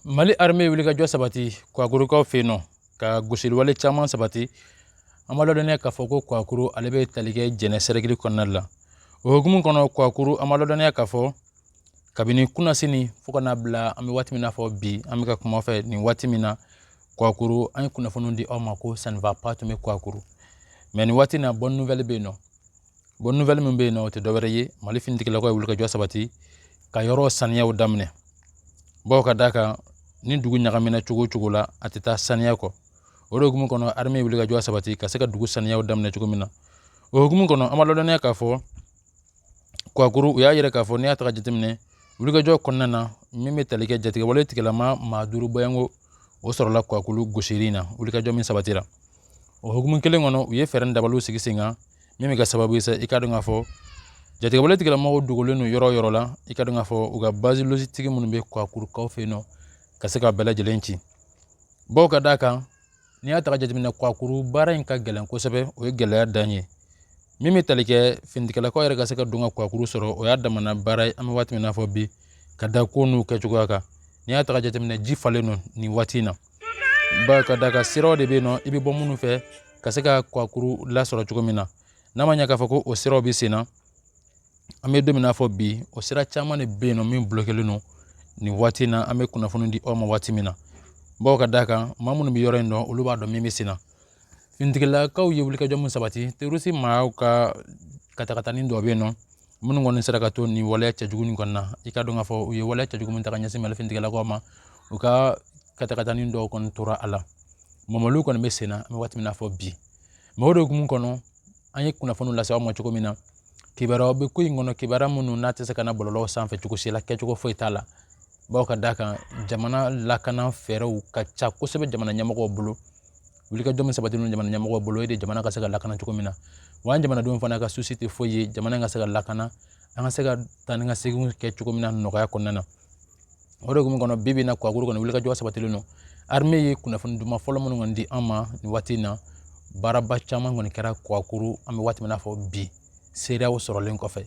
mali armée wulikajɔ sabati kuwakurukaw fɛ yen nɔ ka gosiliwale caman sabati an b'a ladɔnniya k'a fɔ ko kuwakuru ale bɛ tali kɛ jɛnɛ sɛrɛkili kɔnɔna la o hukumu kɔnɔ kuwakuru an b'a ladɔnniya k'a fɔ kabini kunasini fo ka n'a bila an bɛ waati min na fɔ bi an bɛ ka kuma fɛ nin waati min na kuwakuru an ye kunnafoniw di aw ma ko ça ne va pas tun bɛ kuwakuru mais nin waati in na bonne nouvelle bɛ yen nɔ bonne nouvelle min bɛ yen nɔ o tɛ dɔwɛrɛ ye mali finitigilakaw ye wulikajɔ sabati ka yɔrɔ saniyaw daminɛ bawo ka d'a kan ni dugu ɲagamina cogo o cogo la a tɛ taa saniya kɔ o de hukumu kɔnɔ armée ye wulikajɔ sabati ka se ka dugu saniyaw daminɛ cogo min na o hukumu kɔnɔ an b'a ladɔnniya k'a fɔ kuwakuru u y'a yira k'a fɔ n'i y'a ta ka jateminɛ wulikajɔ kɔnɔna na min bɛ tali kɛ jatigɛwale tigilama maa duuru bɔyanko o sɔrɔla kuwakuru gosili in na wulikajɔ min sabatira o hukumu kelen kɔnɔ u ye fɛɛrɛ dabaliw sigi sen kan min bɛ kɛ sababu ye sa i ka dɔn k'a fɔ jatigɛwale tigilamɔgɔw dogolen don yɔrɔ o yɔrɔ la i ka dɔn k'a fɔ u ka base logistique minnu bɛ kwakurukaw fɛ yen nɔ ka se ka bɛɛ lajɛlen ci bawo ka d'a kan n'i y'a ta ka jateminɛ kwakuru baara in ka gɛlɛn kosɛbɛ o ye gɛlɛya dan ye min bɛ tali kɛ finitigilakaw yɛrɛ ka se ka don ka kwakuru sɔrɔ o y'a damana baara ye an bɛ waati min na fɔ bi ka da ko n'u kɛcogoya kan n'i y'a ta ka jateminɛ ji falen don nin waati in na bawo ka d'a kan siraw de bɛ yen nɔ i bɛ bɔ minnu fɛ ka se ka kwakuru lasɔrɔ cogo min na n'a ma ɲɛ k'a fɔ ko o siraw bɛ sen na an bɛ don min na fɔ bi o sira caman de bɛ yen nɔ min bloquélen don nin waati in na an bɛ kunnafoni di aw ma waati min na bawo ka d'a kan maa minnu bɛ yɔrɔ in dɔn olu b'a dɔn min bɛ sen na finitigilakaw ye wulikajɔ min sabati terroriste maaw ka katakatani dɔ bɛ yen nɔ minnu kɔni sera ka to nin waleya cɛjugu nin kɔnɔna i ka dɔn k'a fɔ u ye waleya cɛjugu min ta ka ɲɛsin mali finitigilakaw ma u ka katakatani dɔw kɔni tora a la mɔmɔliw kɔni bɛ sen na an bɛ waati min na fɔ bi mais o de hukumu kɔnɔ an ye kunnafoniw lase aw ma cogo min na kibaruyaw bɛ ko in kɔnɔ kibaruya minnu n'a tɛ se ka na bɔlɔlɔw sanfɛ cogo si la kɛcogo foyi t'a la bawo ka d'a kan jamana lakana fɛɛrɛw ka ca kosɛbɛ jamana ɲɛmɔgɔw bolo wulikajɔ min sabatilen don jamana ɲɛmɔgɔw bolo o de jamana ka se ka lakana cogo min na wa an jamanadenw fana ka souci tɛ foyi ye jamana ka se ka lakana an ka se ka taa ni ka segin kɛ cogo min na nɔgɔya kɔnɔna na o de hukumu kɔnɔ bi bi in na kuwakuru kɔnɔ wulikajɔ sabatilen don armée ye kunnafoni duman fɔlɔ minnu kɔni di an ma nin waati in na baaraba caman kɔni kɛra kuwakuru an bɛ waati min na fɔ bi seereyaw sɔrɔlen kɔfɛ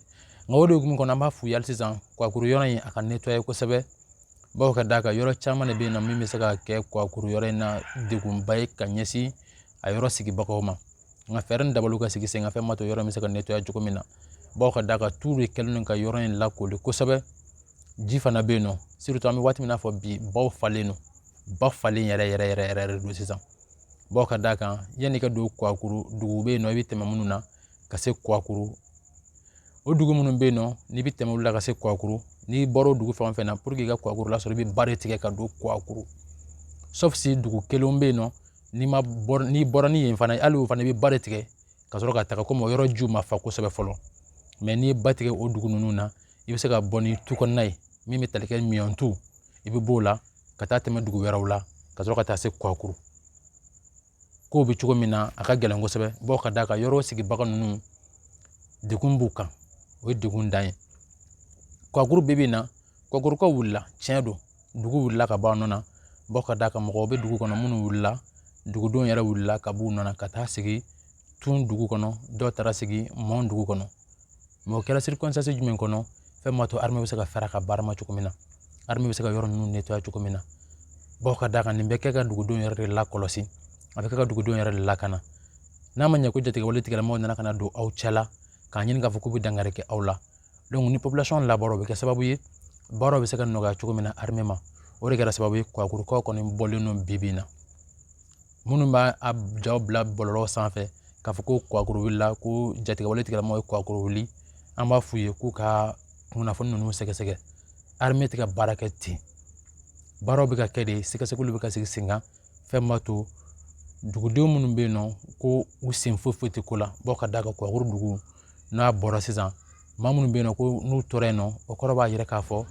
nka o de hukumu kɔnɔ an b'a f'u ye hali sisan kuwakuru yɔrɔ in a ka nettoyer kosɛbɛ bawo ka d'a kan yɔrɔ caman de bɛ yen nɔ min bɛ se ka kɛ kuwakuru yɔrɔ in na degunba ye ka ɲɛsin a yɔrɔ sigibagaw ma nka fɛɛrɛ ni dabaliw ka sigi sen kan fɛn min b'a to yɔrɔ in bɛ se ka nettoyer cogo min na bawo ka d'a kan tu de kɛlen don ka yɔrɔ in lakoli kosɛbɛ ji fana bɛ yen nɔ surtout an bɛ waati min na fɔ bi baw falen don ba falen yɛrɛ yɛrɛ yɛrɛ yɛrɛ de don sisan bawo ka d'a kan yanni i ka don kuwakuru dugu bɛ yen nɔ i bɛ tɛmɛ minnu na ka se kuwakuru o dugu minnu bɛ yen nɔ n'i bɛ tɛmɛ olu la ka se kuwakuru n'i bɔra o dugu fɛn o fɛn na pour que i ka kuwakuru lasɔrɔ i bɛ ba de tigɛ ka don kuwakuru sauf si dugu kelen bɛ yen nɔ n'i ma n'i bɔra ni yen fana ye hali o fana i bɛ ba de tigɛ ka sɔrɔ ka taga komi o yɔrɔ jiw ma fa kosɛbɛ fɔlɔ mais n'i ye ba tigɛ o dugu ninnu na i bɛ se ka bɔ ni tu kɔnɔna ye min bɛ tali kɛ miyantu i bɛ b'o la ka taa tɛmɛ dugu wɛrɛw la ka sɔrɔ ka taa se kuwakuru kow bɛ cogo min na a ka gɛlɛn kosɛbɛ bawo ka d'a kan yɔrɔ sigibaga ninnu degun b'u kan o ye degun dan ye kuwakuru bi bi in na kuwakurukaw wulila tiɲɛ don dugu wulila ka bɔ a nɔ na bawo ka d'a kan mɔgɔw bɛ dugu kɔnɔ minnu wulila dugudenw yɛrɛ wulila ka b'u nɔ na ka taa sigi tun dugu kɔnɔ dɔw taara sigi mɔn dugu kɔnɔ mais o kɛra circonstance jumɛn kɔnɔ fɛn ma to armée bɛ se ka fɛɛrɛ ka baara ma cogo min na armée bɛ se ka yɔrɔ ninnu nettoyer cogo min na bawo ka d'a kan nin bɛ kɛ ka dugudenw yɛrɛ de lakɔlɔsi a bɛ kɛ ka dugudenw yɛrɛ de lakana n'a ma ɲɛ ko jatigɛwale tigilamɔgɔw nana ka na don aw cɛ la k'a ɲini k'a fɔ k'u bɛ dankari kɛ aw la donc ni population labɔra o bɛ kɛ sababu ye baaraw bɛ se ka nɔgɔya cogo min na armée ma o de kɛra sababu ye kwakurukaw kɔni bɔlen don bi bi in na minnu b'a jaw bila bɔlɔlɔ sanfɛ k'a fɔ ko kuwakuru wulila ko jatigɛwale tigilamɔgɔw ye kuwakuru wuli an b'a f'u ye k'u ka kunnafoni ninnu sɛgɛsɛgɛ armée tɛ ka baara kɛ ten baaraw bɛ ka kɛ de sɛgɛsɛgɛliw bɛ ka sigi sen kan fɛn min b'a to dugudenw minnu bɛ yen nɔ ko u sen foyi foyi tɛ ko la bawo ka d'a kan kuwakuru dugu n'a bɔra sisan maa minnu bɛ yen nɔ ko n'u tora yen nɔ o kɔrɔ b'a yira k'a fɔ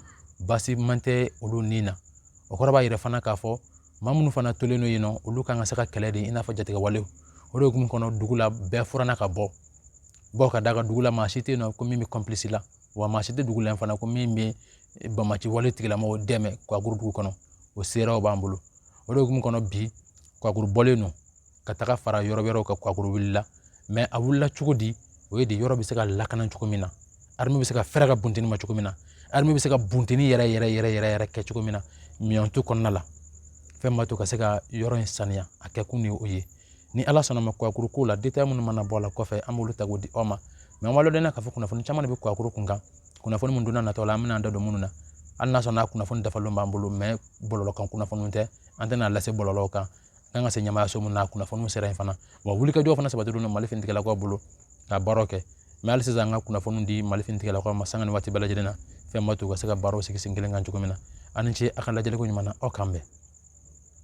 baasi man tɛ olu ni na o kɔrɔ b'a yira fana k'a fɔ maa minnu fana tolen don yen nɔ olu kan ka se ka kɛlɛ de i n'a fɔ jatigɛwalew o de hukumu kɔnɔ dugu la bɛɛ furanna ka bɔ bawo ka d'a kan dugu la maa si tɛ yen nɔ ko min bɛ complice la wa maa si tɛ dugu la fana ko min bɛ bamaci wale tigilamɔgɔw dɛmɛ kuwakuru dugu kɔnɔ o seerew b'an bolo o de hukumu kɔnɔ bi kuwakuru bɔlen don ka taga fara yɔrɔ wɛrɛw kan kwakuru wulila mais a wulila cogo di o ye de yɔrɔ bɛ se ka lakana cogo min na armée bɛ se ka fɛɛrɛ ka bunteni ma cogo min na armée bɛ se ka bunteni yɛrɛ yɛrɛ yɛrɛ yɛrɛ yɛrɛ kɛ cogo min na miyantu kɔnɔna la fɛn ma to ka se ka yɔrɔ in saniya a kɛ kun de ye o ye ni ala sɔnna ma kwakuru ko la détail minnu mana bɔ a la kɔfɛ an b'olu ta k'o di aw ma mais an b'a ladɔnniya k'a fɔ kunnafoni caman de bɛ kwakuru kun kan kunnafoni min don nataw la an bɛna an da don minnu na hali n'a sɔrɔla kunnafoni dafalen b'an bolo mais bɔlɔlɔ kan kunnafoniw tɛ an tɛna lase bɔlɔlɔw kan kan ka se ɲɛmaayaso min na kunnafoniw sera yen fana wa wulikajɔ fana sabatilen don mali finitigilakaw bolo ka baaraw kɛ mais hali sisan an ka kunnafoniw di mali finitigilakaw ma sanga ni waati bɛɛ lajɛlen na fɛn ma to u ka se ka baaraw sigi sen kelen kan cogo min na a ni ce a ka lajɛliko ɲuman na aw k'an bɛn